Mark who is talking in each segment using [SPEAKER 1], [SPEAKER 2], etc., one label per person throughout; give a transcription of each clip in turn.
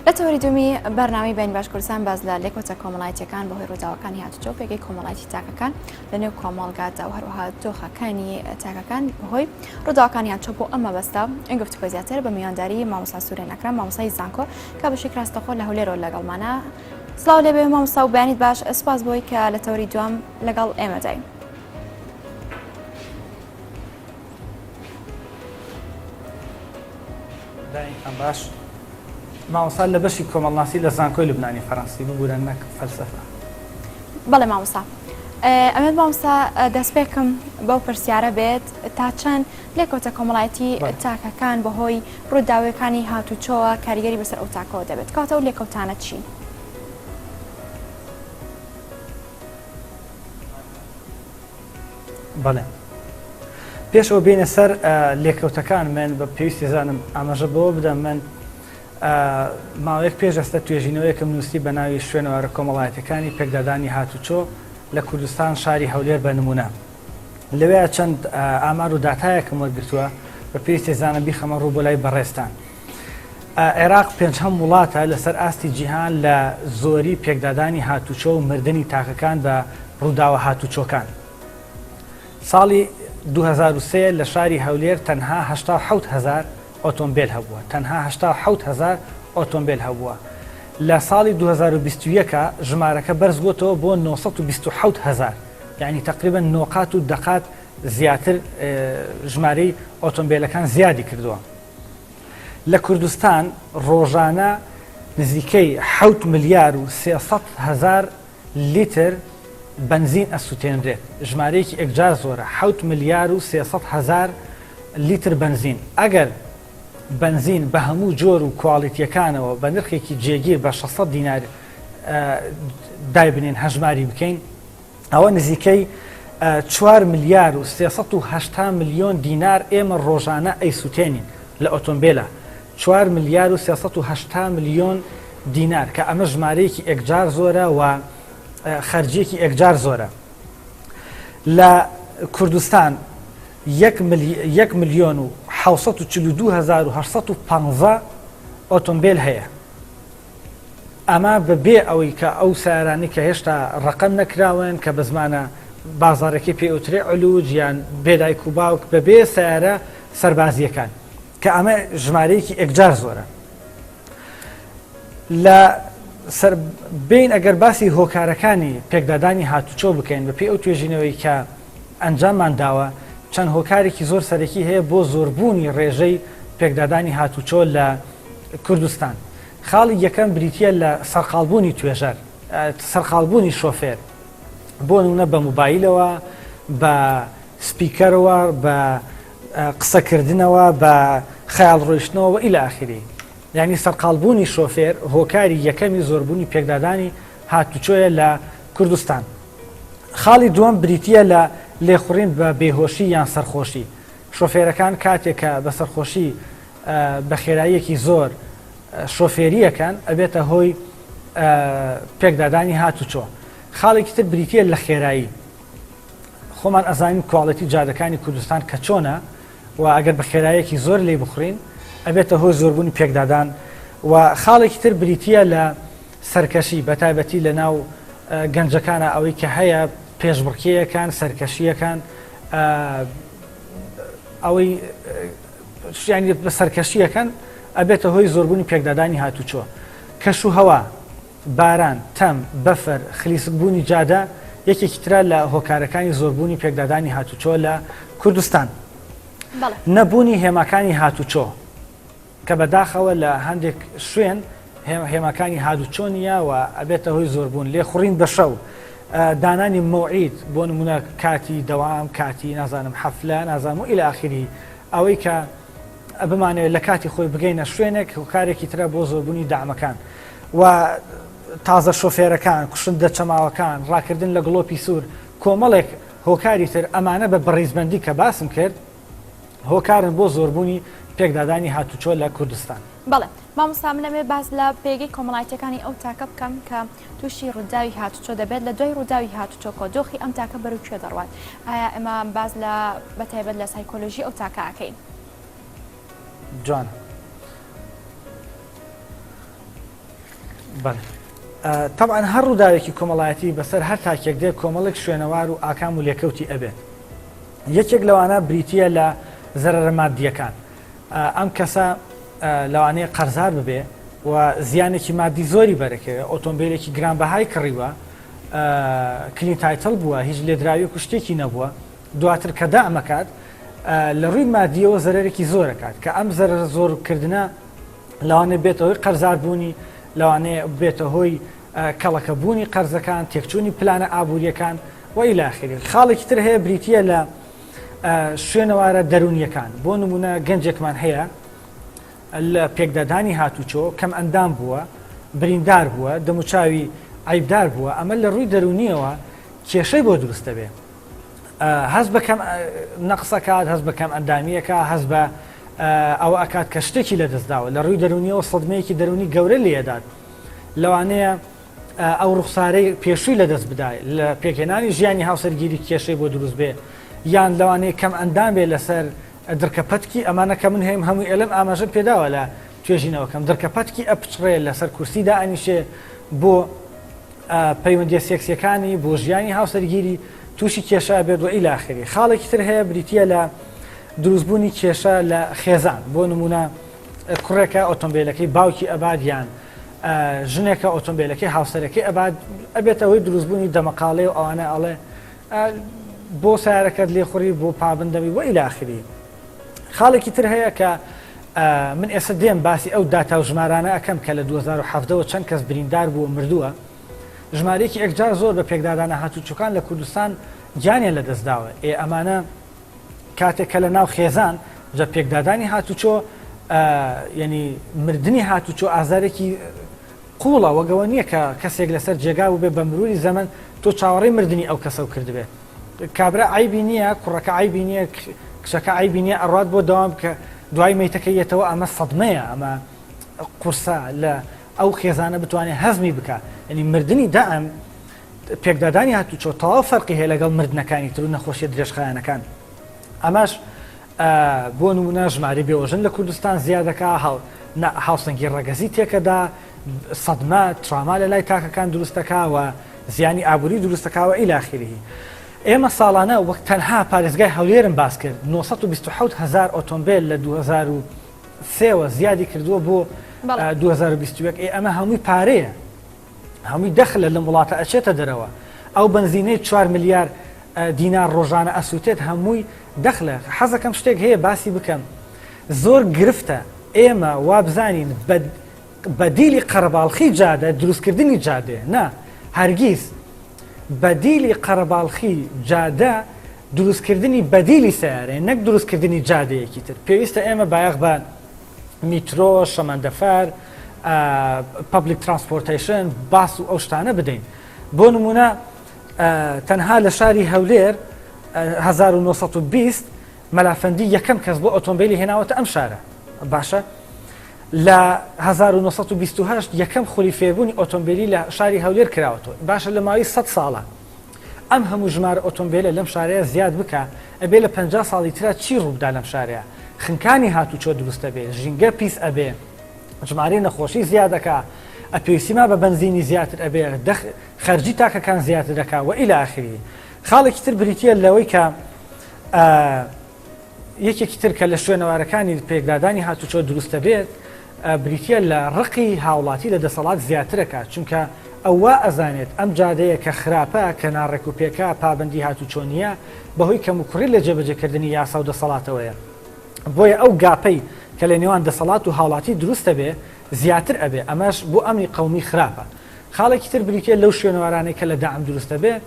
[SPEAKER 1] لە تەوەری دومی بەرنامی بین باش کوردستان باز لە لێکۆچە کۆمەڵایەتەکان بەهۆی ڕووداوەکانی هاتوچۆ پێگەی کۆمەڵایەتی تاکەکان لە نێو کۆمەڵگادا و هەروەها دۆخەکانی تاکەکان بەهۆی ڕووداوەکانی هاتچۆ بۆ ئەمە بەستا ئەنگ گفتوگۆ زیاتر بە میوانداری مامۆسا سوورێن ئەکرام مامۆسای زانکۆ کە بەشی کراستەخۆ لە هەولێرۆ لەگەڵمانە سلااو لێ بێ مامۆستا و بەیانیت باش ئەسپاس بۆی کە لە تەوری دوام لەگەڵ ئێمەدای.
[SPEAKER 2] دایکم باش مامۆستا لە بەشی کۆمەڵناسی لە زانکۆی لبنانی فەرەنسی ببوورە نەک فەلسەفە بەڵێ
[SPEAKER 1] مامۆستا ئەمە مامۆستا دەستپێکم بەو پرسیارە بێت تا چەند لێکۆتە کۆمەڵایەتی تاکەکان بەهۆی ڕووداوەکانی هاتوچۆوە کاریگەری بەسەر ئەو تاکەوە دەبێت کاتە و لێکەوتانە چی؟
[SPEAKER 2] بەڵێ پێش ئەو بینە سەر لێکەوتەکان من بە پێویستی زانم ئاماژە بەوە بدەم من ماوەیەک پێش ئەستە توێژینەوەیەکم نووسی بە ناوی شوێنەوارە کۆمەڵایەتەکانی پێکدادانی هاتوچۆ لە کوردستان شاری هەولێر بە نمونە لەوێ چەند ئامار و داتایەکم وەرگتووە بە پێویستی زانە بیخەمە ڕوو بۆ لای بەڕێستان عێراق پێنجهەم وڵاتە لەسەر ئاستی جیهان لە زۆری پێکدادانی هاتوچۆ و مردنی تاکەکان بە ڕووداوە هاتوچۆکان. ساڵی 2023 لە شاری هەولێر تەنها 87 هەزار ئۆتۆمبێل هەبووە تەنها 87 هەزار ئۆتۆمبێل هەبووە لە ساڵی 2021 ژمارەکە بەرزبووتەوە بۆ 927 هەزار یعنی تقریبا نۆقات و دەقات زیاتر ژمارەی ئۆتۆمبیلەکان زیادی کردووە لە کوردستان ڕۆژانە نزیکەی حەوت ملیار و سێ سەد هەزار لیتر بەنزین ئەسوتێنرێت، ژمارەیەکی ئێکجار زۆرە، حەوت ملیار و سێ سەد هەزار لیتر بەنزین، ئەگەر بەنزین بە هەموو جۆر و کواڵیتییەکانەوە بە نرخێکی جێگیر بە شەش سەد دینار دایبنێین هەژماری بکەین، ئەوە نزیکەی چوار ملیار و سێ سەد و هەشتا ملیۆن دینار ئێمە ڕۆژانە ئەیسوتێنین لە ئۆتۆمبیلە چوار ملیار و سێ سەد و هەشتا ملیۆن دینار کە ئەمە ژمارەیەکی ئەکجار زۆرە و خەرجیەکی ئەکجار زۆرە لە کوردستان یەک ملیۆن و 1940 ئۆتۆمبیل هەیە ئەمە بە بێ ئەوەی کە ئەو سەیارانەی کە هێشتا ڕەقەم نەکراوەن کە بە زمانە بازاڕێکی پێ ئەوترێ علوج یان بێ دایک و باوک بە بێ سەیارە سەربازییەکان کە ئەمە ژمارەیەکی ئێکجار زۆرە لە سەر بین ئەگەر باسی هۆکارەکانی پێکدادانی هاتوچۆ بکەین بە پێی ئەو توێژینەوەی کە ئەنجاممان داوە چەند هۆکارێکی زۆر سەرەکی هەیە بۆ زۆربوونی ڕێژەی پێکدادانی هاتوچۆ لە کوردستان خاڵی یەکەم بریتییە لە سەرقاڵبوونی توێژەر، سەرقاڵبوونی شۆفێر، بۆ نمونە بە موبایلەوە، بە سپیکەرەوە، بە قسەکردنەوە، بە خەیاڵ ڕۆیشتنەوە وەئیلە ئاخیری. یانی سەرقاڵبوونی شۆفێر هۆکاری یەکەمی زۆربوونی پێکدادانی هاتوچۆیە لە کوردستان. خاڵی دووەم بریتییە لە لێخوڕین بە بێهۆشی یان سەرخۆشی. شۆفێرەکان کاتێک کە بە سەرخۆشی بە خێراییەکی زۆر شۆفێری ئەکەن ئەبێتە هۆی پێکدادانی هاتوچۆ خاڵێکی تر بریتە لە خێرایی خۆمان ئەزانین کوواڵەتی جادەکانی کوردستان کە چۆنە و ئەگەر بە خێرایەکی زۆر لی بخورین ئەبێتە هۆی زۆربوونی پێکدادان و خاڵێکی تر بریتە لە سەرکەشی بە تایبەتی لە ناو گەنجەکانە ئەوەی کە هەیە پێشبڕکیەکان سەرکەشیەکان ئەوەی یانی بە سەرکەشی ئەکەن ئەبێتە هۆی زۆربوونی پێکدادانی هاتوچۆ کەش و هەوا باران تەم بەفەر خلیسک بوونی جادە یەکێکی تررا لە هۆکارەکانی زۆربوونی پێکدادانی هاتوچۆ لە کوردستان نەبوونی هێماکانی هاتوچۆ کە بەداخەوە لە هەندێک شوێن هێماکانی هادوچۆ نیە و ئەبێتە هۆی زۆربوون لێ خوڕین بە شەو دانانی مەوعید بۆ نمونە کاتی دەوام کاتی نازانم حەفلە نازانم و ئیلە ئاخیری ئەوەی کە بمانەوێت لە کاتی خۆی بگەینە شوێنێک هۆکارێکی ترە بۆ زۆربوونی دامەکان و تازە شۆفێرەکان کوشندە چەماوەکان ڕاکردن لە گڵۆپی سوور کۆمەڵێک هۆکاری تر ئەمانە بە بەڕیزبندی کە باسم کرد هۆکارن بۆ زۆربوونی پێکدادانی هاتوچۆ لە کوردستان بەڵێ مامۆستا
[SPEAKER 1] منەوێ باس لە پێگەی کۆمەڵایەتەکانی ئەو تاکە بکەم کە تووشی ڕووداوی هاتوچۆ دەبێت، لە دوای ڕووداوی هاتوچۆ کۆ دۆخی ئەم تاکە بەرەو کوێ دەڕوات؟ ئایا ئێمە باس لە بە تایبەت لە سایکۆلۆژی ئەو تاکە ئەکەین؟ جوان
[SPEAKER 2] بەڵێ طبعا هەر ڕووداوێکی کۆمەڵایەتی بەسەر هەر تاکێک دێ کۆمەڵێک شوێنەوار و ئاکام و لێکەوتی ئەبێت یەکێک لەوانە بریتە لە زەرەرە مادیەکان ئەم کەسە لەوانەیە قەرزار ببێ و زیانێکی مادی زۆری بەرەکەوێ ئۆتۆمبیلێکی گرانبەهای کڕیوە کلین تایتل بووە هیچ لێدراوی کوشتێکی نەبووە دواتر کە دامەکات لە ڕووی مادیەوە زەرێکی زۆرەکات کە ئەم زەر زۆرکردە لەوانێ بێتەوەی قەرزاربوونی لەوانێ بێتە هۆی کەڵەکە بوونی قەرزەکان تێکچوونی پلانە ئابوووریەکان وەیلاخری خاڵێکی تر هەیە بریتە لە شوێنەوارە دەروونیەکان بۆ نمونە گەنجێکمان هەیە لە پێکدادانی هاتوچۆ کەم ئەندام بووە بریندار بووە دەموچاوی عیبدار بووە ئەمە لە ڕووی دەرونیەوە کێشەی بۆ دروست دەبێ هەز بەکەم نەقسەکات هەز بەکەم ئەندامیەکە هەز بە ئەو ئەکات کە شتێکی لە دەستداوە لە ڕووی دەرونیەوە سەدمەیەکی دەرونی گەورە لێدات لەوانەیە ئەو ڕوخسارەی پێشووی لەدەست بدای لە پێکهێنانی ژیانی هاوسەرگیری کێشەی بۆ دروست بێ یان لەوانەیە کەم ئەندام بێ لەسەر درکە پەتکی ئەمانە کە من هەیەم هەموو ئێلم ئاماژە پێداوە لە توێژینەوەکەم درکە پەتکی ئەپچڕێ لەسەر کورسی دائنیشێ بۆ پەیوەندیە سێکسیەکانی بۆ ژیانی هاوسەرگیری تووشی کێشە بێت وە ئیلاخری خاڵێکی تر هەیە بریتە لە دروستبوونی کێشە لە خێزان بۆ نمونە کوڕێکە ئۆتۆمبیلەکەی باوکی ئەبات یان ژنێکە ئۆتۆمبیلەکەی هاوسەرەکەی ئەبات ئەبێت ئەوەی دروستبوونی دەمەقاڵێ و ئەوانە ئەڵێ بۆ سارەکەت لێخوری بۆ پابندەوی بۆ ئیلاخری خاڵێکی تر هەیە کە من ئێستا دێم باسی ئەو داتا و ژمارانە ئەەکەم کە لە 2010ەوە چەند کەس بریندار بووە مردووە ژمارەیەکی ئەکجار زۆر بە پێکدادانە هاتوچەکان لە کوردستان گیانیان لە دەستداوە ئێ ئەمانە کاتێک کە لە ناو خێزان جە پێکدادانی هاتوچۆ ینی مردنی هاتوچۆ ئازارێکی قوڵە وەگەوە نییە کە کەسێک لەسەر جێگا و بێ بە مروری زەمن تۆ چاوەڕی مردنی ئەو کەسە و کردبێت کابرا ئایبی نییە کوڕەکە ئایبی نییە کچەکە ئایبی نییە ئەڕات بۆ داوام کە دوای مەیتەکە یەتەوە ئەمە سەدمەیە ئەمە قورسە لە ئەو خێزانە بتوانێت هەزمی بکە ینی مردنی دائم پێکدادانی هاتوچۆ تەواو فەرقی هەیە لەگەڵ مردنەکانی تر و نەخۆشیە درێژخایەنەکان ئەمەش بۆ نمونە ژماری بێوەژن لە کوردستان زیادەکە هاو هاوسەنگی ڕەگەزی تێکەدا سەدمە تراما لە لای تاکەکان دروستەکەوە زیانی ئابووری دروستەکەوە ئیلاخیری ئێمە ساڵانە وەک تەنها پارێزگای هەولێرم باس کرد 1970 هزار ئۆتۆمبیل لە 2000 سێوە زیادی کردووە بۆ 2021 ئێ ئەمە هەمووی پارەیە هەمووی دەخلە لەم وڵاتە ئەچێتە دەرەوە ئەو بنزینەی چوار ملیار دینار ڕۆژانە ئەسووتێت هەمووی دەخلە حەزەکەم شتێک هەیە باسی بکەم زۆر گرفتە ئێمە وابزانین بەدیلی قەرەباڵخی جادە دروستکردنی جادێ نا هەرگیز بەدیلی قەرەباڵخی جادە دروستکردنی بەدیلی سیارێ نەک دروستکردنی جادەیەکی تر پێویستە ئێمە بایەخ بە میترۆ شەمەندەفەر پبلیک ترانسپۆرتیشن باس و ئەو شتانە بدەین بۆ نمونە تەنها لە شاری هەولێر 1920 مەلافەندی یەکەم کەس بۆ ئۆتۆمبیلی هێناوەتە ئەم شارە باشە لە 1920 یەکەم خولی فێبوونی ئۆتۆمبیلی لە شاری هەولێر کراوەەوە باشە لە ماوەی 100 ساڵە ئەم هەموو ژمارە ئۆتۆمبێلە لەم شارەیە زیاد بکە ئەبێ لە پەنجا ساڵی ترا چی ڕووبدا لەم شارەیە خنکانی هاتوچۆ دروست ئەبێ ژینگە پیس ئەبێ ژمارەی نەخۆشی زیاد ئەکا ئەپێویستی ما بە بەنزینی زیاتر ئەبێ دەخ خەرجی تاکەکان زیاتر دەکا وە ئیلە ئاخری خاڵێکی تر بریتیە لەوەی کە یەکێکی تر کە لە شوێنەوارەکانی پێکدادانی هاتوچۆ دروست دەبێت بریتییە لە ڕقی هاوڵاتی لە دەسەڵات زیاترەکە، چونکە ئەو وا ئەزانێت ئەم جادەیە کە خراپە، کە ناڕێکوپێکە، پابەندی هاتوچۆ نییە، بەهۆی کەموکوڕی لە جێبەجێکردنی یاسا و دەسەڵاتەوەیە. بۆیە ئەو گاپەی کە لە نێوان دەسەڵات و هاوڵاتی دروست دەبێت زیاتر ئەبێت، ئەمەش بۆ ئەمنی قەومی خراپە. خاڵێکی تر بریتییە لەو شوێنەوارانەی کە لە دەعم دروست دەبێت،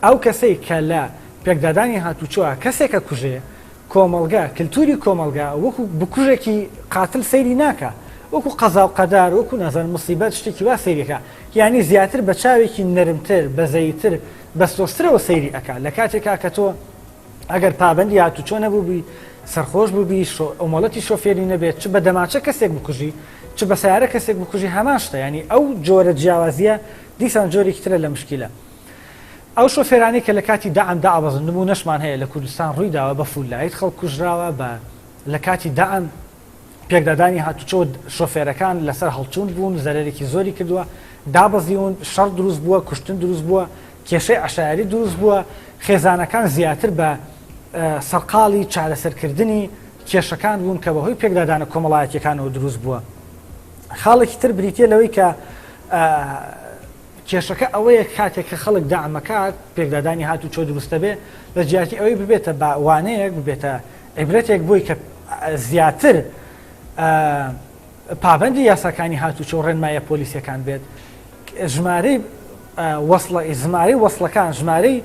[SPEAKER 2] ئەو کەسەی کە لە پێکدادانی هاتوچۆا کەسێکە کوژێ، کۆمەڵگە، کلتوری کۆمەڵگا وەکو بکوژێکی قاتل سەیری ناکا، وەکو قەزاو قەدار، وەکو نازانم موسیبەت شتێکی وا سەیری ئەکا، یانی زیاتر بە چاوێکی نەرمتر، بەزەییتر، بەسۆزترەوە سەیری ئەکا، لە کاتێکا کە تۆ ئەگەر پابەندی هاتوچۆ نەبووبی، سەرخۆش بووبی، شۆ، مۆڵەتی شۆفێری نەبێت، چ بە دەماچە کەسێک بکوژی، چ بە سەیارە کەسێک بکوژی هەمان شتە، یانی ئەو جۆرە جیاوازییە دیسان جۆرێکی ترە لە مشکیلە. ئەو شۆفێرانەی کە لە کاتی دەعم دابەزندبوو نەشمان هەیە لە کوردستان ڕووی داوە بە فول لایت خەڵک کوژراوە بە لە کاتی دەعم پێکدادانی هاتوچۆ شۆفێرەکان لەسەر هەڵچوون بوون زەرەرێکی زۆری کردووە دابەزیون شەڕ دروست بووە کوشتن دروست بووە کێشەی عشایری دروست بووە خێزانەکان زیاتر بە سەرقاڵی چارەسەرکردنی کێشەکان بوون کە بەهۆی پێکدادانە کۆمەڵایەتەکانەوە دروست بووە خاڵێکی تر بریتە لەوەی کە کێشەکە ئەوەیە کاتێک کە خەڵک دەعم ئەکات، پێکدادانی هاتوچۆ دروست دەبێت، لە جیاتی ئەوەی ببێتە بە وانەیەک، ببێتە عیبرەتێک بۆی کە زیاتر پابەندی یاساکانی هاتوچۆ و ڕێنماییە پۆلیسییەکان بێت، ژمارەی وەسڵە، ژمارەی وەسڵەکان، ژمارەی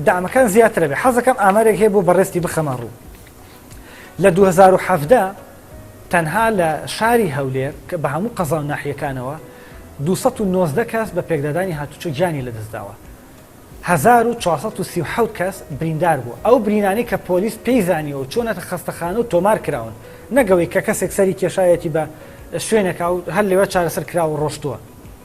[SPEAKER 2] دەعمەکان زیاتر ئەبێت. حەز دەکەم ئامارێک هەیە بۆ بەڕێزتی بخەمە ڕوو. لە دوو هەزار و حەڤدە تەنها لە شاری هەولێر کە بە هەموو قەزا و ناحیەکانەوە دوو سەد و نۆزدە کەس بە پێکدادانی هاتوچۆ گیانی لەدەستداوە، هەزار و چوار سەد و سی و حەوت کەس بریندار بووە، ئەو برینانەی کە پۆلیس پێی زانیوە و چۆنەتە خەستەخانە و تۆمار کراون، نەک ئەوەی کە کەسێک سەری کێشاویەتی بە شوێنێکا و هەر لەوێ چارەسەر کراوە و ڕۆشتووە.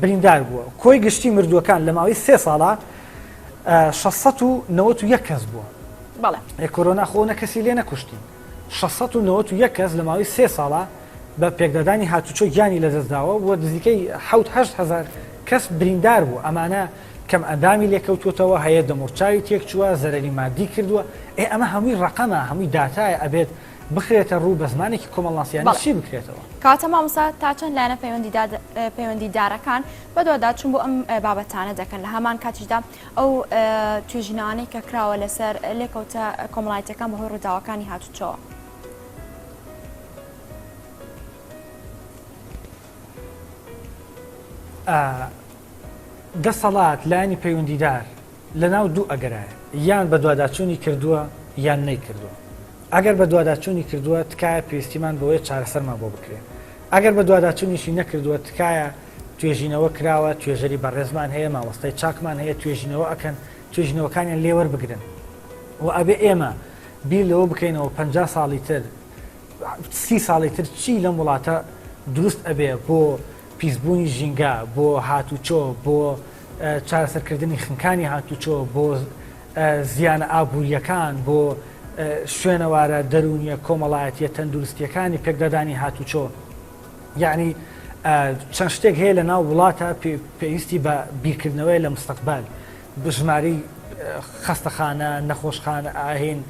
[SPEAKER 2] بریندار بووە، کۆی گشتی مردووەکان لە ماوەی سێ ساڵا شەش سەد و نەوەت و یەک کەس بووە. بەڵێ. ئێ کۆرۆنا خۆ نە کەسی لێ نەکوشتین. شەش سەد و نەوەت و یەک کەس لە ماوەی سێ ساڵا بە پێکدادانی هاتوچۆ گیانی لە دەست داوە و نزیکەی حەوت هەشت هەزار کەس بریندار بووە، ئەمانە کەم ئەندامی لێ کەوتووەتەوە، هەیە دەموڕچاوی تێک چووە، زەرەری ماددی کردووە، ئێ ئەمە هەمووی ڕەقەمە، هەمووی داتایە، ئەبێت بخرێتە ڕوو بە زمانێکی کۆمەڵناسییانە چی بکرێتەوە؟ کاتە مامۆستا تا
[SPEAKER 1] چەند لایەنە پەیوەندیدارەکان بەدواداچوون بۆ ئەم بابەتانە دەکەن لە هەمان کاتیشدا ئەو توێژینەوانەی کە کراوە لەسەر لێکەوتە کۆمەڵایەتەکان بەهۆی ڕووداوەکانی هاتوچەوە.
[SPEAKER 2] دەسەڵات لایانی پەیوەندیدار لە ناو دوو ئەگەرایە یان بە دوواداچوونی کردووە یان نەیکردووە ئەگەر بەدواداچوونی کردووە تکایە پێویستیمان بەوەیە چارەسەرمان بۆ بکرێت. ئەگەر بەدواداچوونیشی نەکردووە تکایە توێژینەوە کراوە توێژەری بەڕێزمان هەیە مامۆستای چاکمان هەیە توێژینەوە ئەکەن توێژینەوەکانیان لێ وەربگرن و ئەبێ ئێمە بیر لەوە بکەینەوە پەنجا ساڵی تر سی ساڵی تر چی لەم وڵاتە دروست ئەبێ بۆ پیسبوونی ژینگە بۆ هاتوچۆ بۆ چارەسەرکردنی خنکانی هاتوچۆ بۆ زیانە ئابوورییەکان بۆ شوێنەوارە دەروونییە کۆمەڵایەتییە تەندروستییەکانی پێکدادانی هاتوچۆ یعنی چەند شتێک هەیە لە ناو وڵاتە پێویستی بە بیرکردنەوەی لە مستەقبال بژماری خەستەخانە نەخۆشخان ئاهین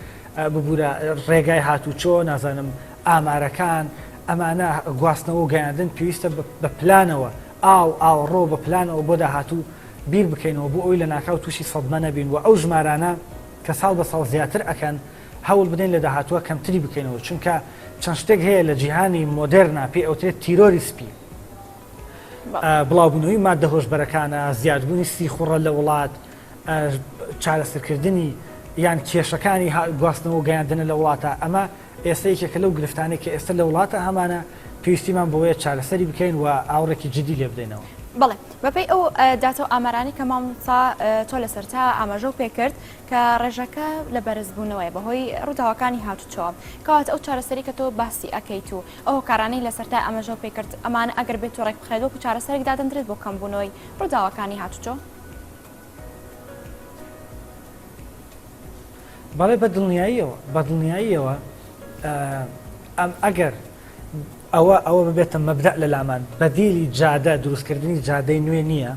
[SPEAKER 2] ببوورە ڕێگای هاتوچۆ نازانم ئامارەکان ئەمانە گواستنەوە گەیاندن پێویستە بە پلانەوە ئاو ئاوەڕۆ بە پلانەوە بۆ داهاتوو بیر بکەینەوە بۆ ئەوەی لەناکاو تووشی سەدمە نەبین و ئەو ژمارانە کە ساڵ بە ساڵ زیاتر ئەکەن هەوڵ بدەین لە داهاتووە کەمتری بکەینەوە چونکە چەند شتێک هەیە لە جیهانی مۆدێرنا پێی ئەوترێت تیرۆری سپی بڵاوبوونەوەی ماددە هۆشبەرەکانە زیادبوونی سیخوڕە لە وڵات چارەسەرکردنی یان کێشەکانی گواستنەوە گەیاندنە لە وڵاتە ئەمە ئێستە یەکێکە لەو گرفتانەی کە ئێستە لە وڵاتە هەمانە پێویستیمان بەوەیە چارەسەری بکەین و ئاوڕێکی جدی لێ بدەینەوە. بەڵێ بەپێی
[SPEAKER 1] ئەو داتا و ئامارانەی کە مامۆستا تۆ لەسەرتا ئاماژە و پێکرد کە ڕێژەکە لە بەرزبوونەوەی بەهۆی ڕووداوەکانی هاتوچۆ کەواتە ئەو چارەسەری کە تۆ باسی ئەکەیت و ئەو هۆکارانەی لەسەرتا ئاماژە و پێکرد ئەمانە ئەگەر بێت و ڕێکبخرێت وەکو چارەسەرێک دادەندرێت بۆ کەمبوونەوەی ڕووداوەکانی هاتوچۆ؟
[SPEAKER 2] بەڵێ بە دڵنیاییەوە بە دڵنیاییەوە ئەم ئەگەر ئەوە ئەوە ببێتە مەبدە لە لامان بەدیلی جادە دروستکردنی جادەی نوێ نییە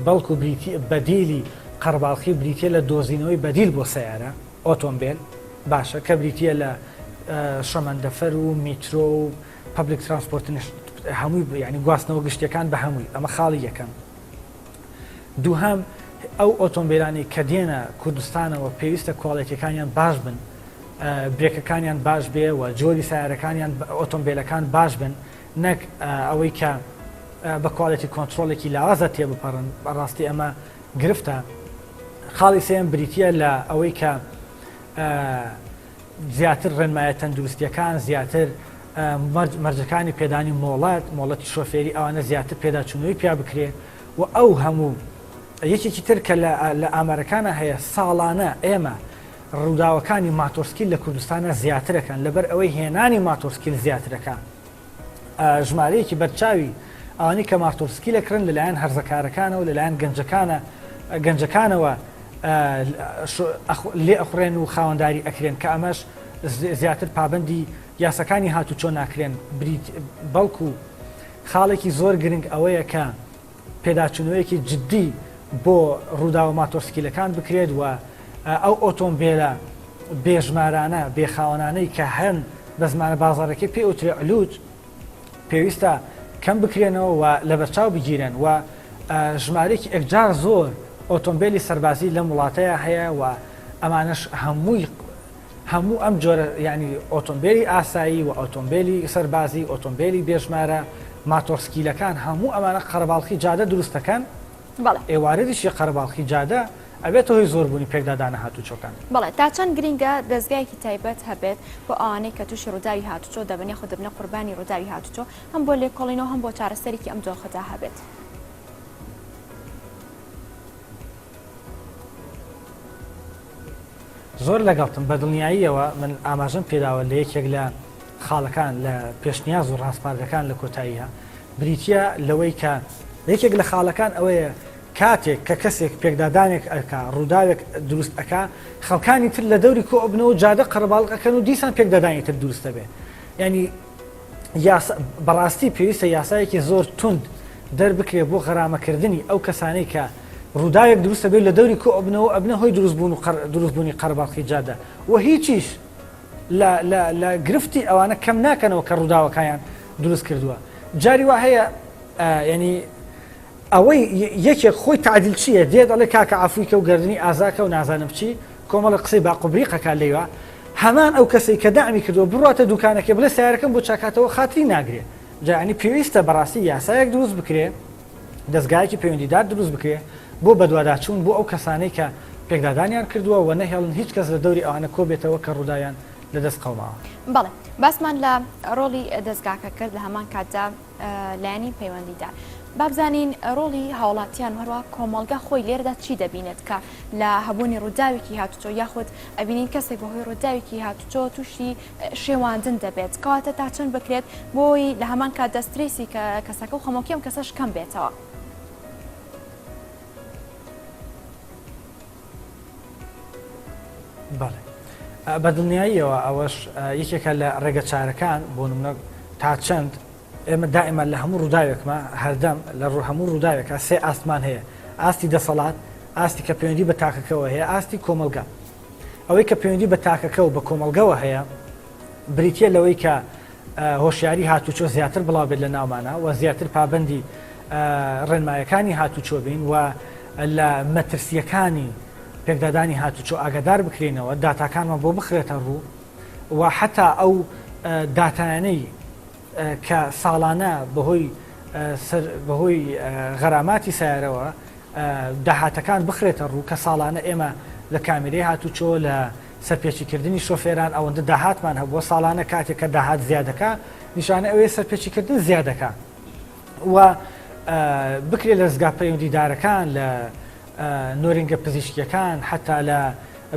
[SPEAKER 2] بەڵکو بریتی بەدیلی قەرباڵخی بریتە لە دۆزینەوەی بەدیل بۆ سیارە ئۆتۆمبیل باشە کە بریتە لە شەمەندەفەر و میترۆ و پبلیک ترانسپۆرتنیش هەمووی ینی گواستنەوە گشتەکان بە هەمووی ئەمە خاڵی یەکەم دووهەم ئەو ئۆتۆمبیلانی کە دێنە کوردستانەوە پێویستە کوالێتیەکانیان باش بن برێکەکانیان باش بێ و جۆری سیارەکانیان ئۆتۆمبیلەکان باش بن نەک ئەوەی کە بە کوالێتی کۆنتترۆلێکی لاوازە تێبپەڕن بەڕاستی ئەمە گرفتە خاڵی سێم بریتە لە ئەوەی کە زیاتر ڕێنمایە تەندروستیەکان زیاتر مەرج مەرجەکانی پێدانی مۆڵەت مۆڵەتی شۆفێری ئەوانە زیاتر پێداچوونەوەی پیا بکرێ و ئەو هەموو یەکێکی تر کە لە ئامارەکانە هەیە ساڵانە ئێمە ڕووداوەکانی ماتۆسکیل لە کوردستانە زیاترەکان لەبەر ئەوەی هێنانی ماتۆسکیل زیاترەکە ژمارەیەکی بەرچاوی ئەوانەی کە مارتۆڤسکی لە کرن لەلایەن هەرزەکارەکانەوە لەلایەن گەنجەکانە گەنجەکانەوە لێ ئەخڕێن و خاوەنداری ئەکرێن کە ئەمەش زیاتر پابندی یاسەکانی هاتوچۆ ناکرێن بریت بەڵکو خاڵێکی زۆر گرنگ ئەوەیە کە پێداچوونەوەیەکی جددی بۆ ڕووداوە ماتۆسکیلەکان بکرێت و ئەو ئۆتۆمبێلە بێژمارانە بێخاوەنانەی کە هەن بە زمانە بازارەکەی پێ ئوترێ علوج پێویستە کەم بکرێنەوە و لەبەرچاو بگیرێن و ژمارێکی ئەکجار زۆر ئۆتۆمبیلی سەربازی لەم وڵاتەیە هەیە و ئەمانش هەمووی هەموو ئەم جۆرە یانی ئۆتۆمبێلی ئاسایی و ئۆتۆمبێلی سەربازی ئۆتۆمبێلی بێژمارە ماتۆڕسکیلەکان هەموو ئەمانە قەرەباڵخی جادە دروست دەکەن ئێ واردیشی قەرەباڵخی جادە ئەبێتە هۆی زۆربوونی پێکدادانە هاتوچۆکان. بەڵێ تا چەند
[SPEAKER 1] گرینگە دەزگایەکی تایبەت هەبێت بۆ ئەوانەی کە تووشی ڕووداوی هاتوچۆ دەبن یاخود دەبنە قوربانی ڕووداوی هاتوچۆ هەم بۆ لێکۆڵینەوە هەم بۆ چارەسەرێکی ئەم دۆخەدا هەبێت.
[SPEAKER 2] زۆر لەگەڵتم بە دڵنیاییەوە من ئاماژەم پێداوە لە یەکێک لە خاڵەکان لە پێشنیاز و ڕاسپاردەکان لە کۆتاییە بریتە لەوەی کە یەکێک لە خاڵەکان ئەوەیە کاتێک کە کەسێک پێکدادانێک ئەکا ڕووداوێک دروست ئەک خەڵکانی تر لە دەوری کۆبنەوە جادە قەرباڵقەکەن و دیسان پێکدادانی تر دروستە بێ ینی یاسا بەڕاستی پێویستە یاسایەکی زۆر توند دەربکرێ بۆ غەرامەکردنی ئەو کەسانەی کە ڕووداوێک دروستە بێت لە دەوری کۆ ئەبنەوە ئەبنە هۆی دروستبوون و دروستبوونی قەرباڵخی جادە و هیچیش لە گرفتی ئەوانە کەم ناکەنەوە کە ڕووداوەکەیان دروست کردووە جاری وا هەیە ینی ئەوەی یەکێک خۆی تەعدیل چیە دێ دەڵێ کاکە عەفوی کە و گەردنی ئازا کە و نازانم چی کۆمەڵە قسەی باق و بریق ئەکا لێوا هەمان ئەو کەسەی کە دەعمی کردوە بڕواتە دوکانەکەی بڵێ سەیارەکەم بۆ چاکاتەوە خاتری ناگرێ جا یانی پێویستە بەڕاستی یاسایەک دروست بکرێ دەزگایەکی پەیوەندیدار دروست بکرێ بۆ بەدواداچوون بۆ ئەو کەسانەی کە پێکدادانیان کردووە و نەهێڵن هیچ کەس لە دەوری ئەوانە کۆبێتەوە کە ڕووداویان لەدەست قەوماوە. بەڵێ باسمان
[SPEAKER 1] لە ڕۆڵی دەزگاکە کرد لە هەمان کاتدا، لایەنی پەیوەندیدار بابزانین ڕۆڵی هاوڵاتیان هەروە کۆمەڵگە خۆی لێردا چی دەبینێت کە لە هەبوونی ڕووداوێکی هاتوچۆ یاخود ئەبینین کەسێک بەهۆی ڕووداوێکی هاتوچۆ تووشی شێواندن دەبێت کەواتە تا چەند بکرێت بۆی لە هەمان کات دەستریسی کە کەسەکە و خەمۆکیم کەسەش کەم بێتەوە.
[SPEAKER 2] بەڵێ بەدڵنیاییەوە ئەوەش یەکێکە لە ڕێگە چارەکان بۆ منە تا چەند ئێمە دائما لە هەموو ڕووداوێکمە هەردەم لە ڕوو هەموو ڕووداوێکە سێ ئاستمان هەیە ئاستی دەسەڵات ئاستی کە پەیوەندی بە تاکەکەەوە هەیە ئاستی کۆمەلگا ئەوەی کە پەیوەندی بە تاکەکە و بە کۆمەلگەوە هەیە بریتە لەوەی کە هۆشیاری هاتوچۆ زیاتر بڵاو بێت لە ناومانا و زیاتر پابەندی ڕێنمایەکانی هاتوچۆ بین و لە مەترسیەکانی پێکدادانی هاتوچۆ ئاگادار بکرینەوە داتاکانمان بۆ بخرێتە ڕوو و حتا ئەو داتانەی کە ساڵانە بەهۆی بەهۆی غەراماتی سارەوە داهاتەکان بخرێتە ڕوو کە ساڵانە ئێمە لە کامیرەی هاتوچۆ لە سەرپێچیکردنی شۆفێران ئەوەندە داهاتمان هەبووە ساڵانە کاتێک کە داهات زیادەکە نیشانە ئەوێ سەرپێچیکردن زیادەکە و بکرێت لە زگا پەیوەندیدارەکان لە نۆرنگە پزیشکیەکان حتا لە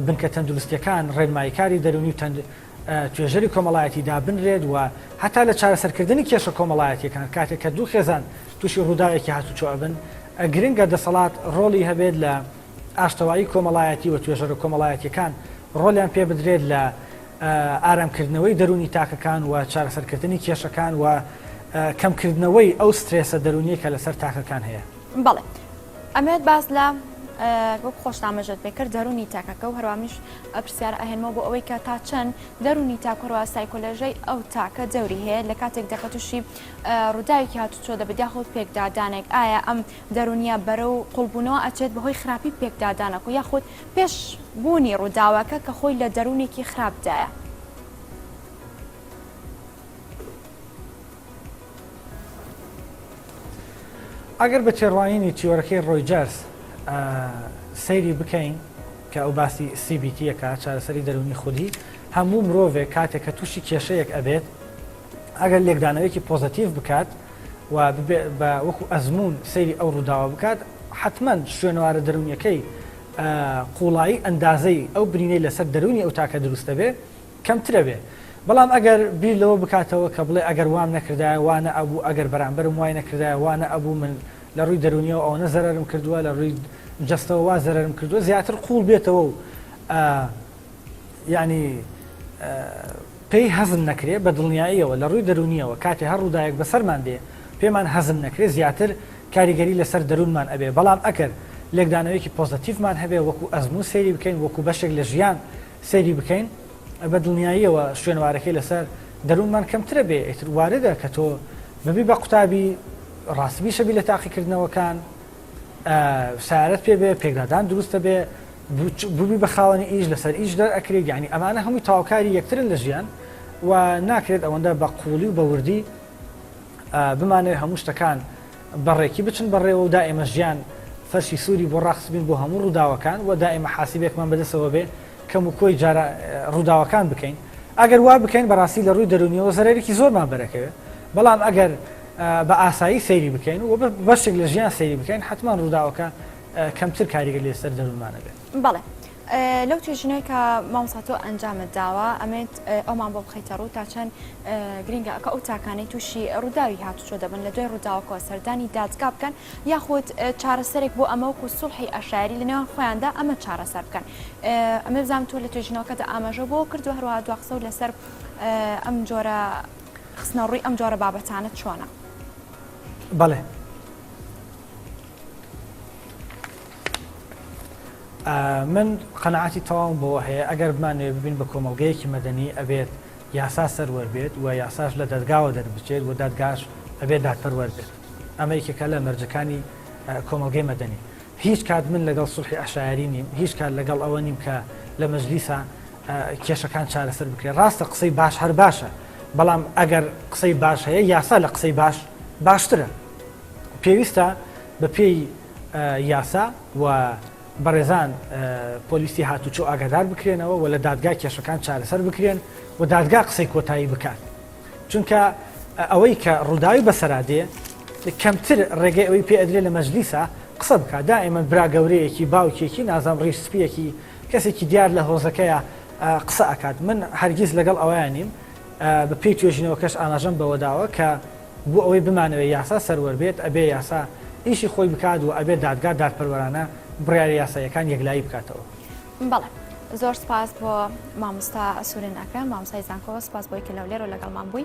[SPEAKER 2] بنکە تەندروستەکان ڕێنماییکاری دەرونی و تەند توێژەری کۆمەڵایەتی دابنرێت و هەتا لە چارەسەرکردنی کێشە کۆمەڵایەتیەکان کاتێک کە دوو خێزان تووشی ڕووداوێکی هاتوچۆ ئەبن گرنگە دەسەڵات ڕۆڵی هەبێت لە ئاشتەوایی کۆمەڵایەتی و توێژەرە کۆمەڵایەتییەکان ڕۆڵیان پێ بدرێت لە ئارامکردنەوەی دەروونی تاکەکان و چارەسەرکردنی کێشەکان و کەمکردنەوەی ئەو سترێسە دەرونیە کە لەسەر تاکەکان هەیە بەڵێ
[SPEAKER 1] ئەمێت باس لە وەک خۆشنامەژێت پێکرد دەرونی تاکەکە و هەروامیش پرسیار ئەهێنمەوە بۆ ئەوەی کە تا چەند دەرونی تاکۆرەوە سایکۆلۆژەی ئەو تاکە دەوری هەیە لە کاتێک دەکەتوشی ڕووداوێکی هاتوچۆ دەبێت یاخود پێکدادانێک ئایا ئەم دەرونیە بەرەو قوڵبونەوە ئەچێت بەهۆی خراپی پێکدادانەکۆ یاخود پێش بونی روداوەکە کە خۆی لە دەرونێکی خراپدایە.
[SPEAKER 2] ئەگەر بە تێڕوانینی تیۆرەکەی رۆیجەرس سەیری بکەین کە ئەو باسی CBT یەکات چارەسەری دەرونی خودی هەموو مرۆڤێک کاتێک کە توشی کێشەیەک ئەبێت، ئەگەر لێکدانەوەیەکی پۆزەتیڤ بکات و ببێ بە وەکو ئەزموون سەیری ئەو ڕووداوە بکات حتمەن شوێنەوارە دەرونیەکەی قوڵایی ئەندازەی ئەو برینەی لەسەر دەرونی ئەو تاکە دروست دەبێ کەمترە بێ بەڵام ئەگەر بیر لەوە بکاتەوە کە بڵێ ئەگەر وام نەکردایە وانە ئەبوو ئەگەر بەرامبەرم وای نەکردایە وانە ئەبوو من لە ڕووی دەرونیەوە ئەوەنە زەرم کردووە لە ڕووی جستەوە وا زەرم کردووە زیاتر قوڵ بێتەوە و یانی پێی هەزم نەکرێ بە دڵنیاییەوە لە ڕووی دەرونیەوە کاتێ هەر ڕووداێک بەسەرمان دێ پێمان هەزم نەکرێ زیاتر کاریگەری لەسەر دەروونمان ئەبێ بەڵام ئەکەر لێکدانەوەیەکی پۆزەتیفمان هەبێ وەکو ئەزموو سەیری بکەین وەکو بەشێک لە ژیان سەیری بکەین بە دڵنیاییەوە شوێنوارەکەی لەسەر دەروونمان کەمترە بێ ئیتر واردە کە تۆ ببی بە قوتابی ڕاستبی شەبی لە تاقیکردنەوەکان سارت پێ بێ پێکدادان دروستە بێ ببی بە خاوەنی ئیش لەسەر ئیش دەر ئەکرێت یعنی ئەمانە هەمووی تاوکاری یەکترن لە ژیان و ناکرێت ئەوەندە بە قوڵی و بەوردی بمانێت هەموو شتەکان بەڕێکی بچن بەڕێوە و دائێمە ژیان فەرشی سووری بۆ ڕاخسبین بۆ هەموو ڕووداوەکان و دائێمە حاسیبێکمان بەدەسەوە بێ کەم و کۆی جارە ڕووداوەکان بکەین ئەگەر وا بکەین بەڕاستی لە ڕووی دەرونیەوە زەرێکی زۆرمان بەرەکەوێت بەڵام ئەگەر بە ئاسایی سەیری بکەین و بەشێک لە ژیان سەیری بکەین حتمما ڕووداوەکە کەمتر کاریگەر لەسەر دەروونمان ئەبێت. بەڵێ
[SPEAKER 1] لەو توێژینەی کە مامۆستا تۆ ئەنجامت داوە ئەمەوێت ئەومان بۆ بخەیتە ڕوو تا چەند گرنگە کە ئەو تاکانەی تووشی ڕووداوی هاتوچۆ دەبن لە دوای ڕووداوەکەوە سەردانی دادگا بکەن یاخود چارەسەرێک بۆ ئەمە وەکو سوڵحی ئەشاری لە نێوان خۆیاندا ئەمە چارەسەر بکەن ئەمە بزانام تۆ لە توێژینەوەکەدا ئاماژە بۆ کردو هەروە دو قسە و لەسەر ئەم جۆرە خستنەڕووی ئەم جۆرە بابەتانە چۆنە
[SPEAKER 2] بەڵێ من قەنەعاتی تەواوم بەوە هەیە ئەگەر بمانەوێ ببین بە کۆمەڵگەیەکی مەدەنی ئەبێت یاسا سەروەر بێت و یاساش لە دەرگاوە دەربچێت و دادگاش ئەبێت دادپەروەر بێت ئەمە یەکێکە لە مەرجەکانی کۆمەڵگەی مەدەنی هیچ کات من لەگەڵ سوحی عشایری نیم هیچ کات لەگەڵ ئەوە نیم کە لە مەجلیسا کێشەکان چارەسەر بکرێت ڕاستە قسەی باش هەر باشە بەڵام ئەگەر قسەی باش هەیە یاسا لە قسەی باش باشترە پێویستە بە پێی یاسا و بەڕێزان پۆلیسی هاتوچۆ ئاگادار بکرێنەوە و لە دادگا کێشەکان چارەسەر بکرێن و دادگا قسەی کۆتایی بکات چونکە ئەوەی کە ڕووداوی بەسەرادێ کەمتر ڕێگەی ئەوەی پێ ئەدرێ لە مەجلیسە قسە بکە دا ئێمە برا گەورەیەکی باوکێکی نازام ڕیش سپیەکی کەسێکی دیار لە هۆزەکەیە قسە ئەکات من هەرگیز لەگەڵ ئەویان نیم بە پێی توێژینەوەکەش ئاماژەم بەوەداوە کە بۆ ئەوەی بمانەوێت یاسا سەروەر بێت، ئەبێت یاسا ئیشی خۆی بکات و ئەبێت دادگا دادپەروەرانە بڕیارە یاساییەکان یەکلایی بکاتەوە. بەڵێ
[SPEAKER 1] زۆر سوپاس بۆ مامۆستا سورێن ئەکرەم مامۆستای زانکۆ سوپاس بۆی کە لەولێرۆ لەگەڵمان بووی.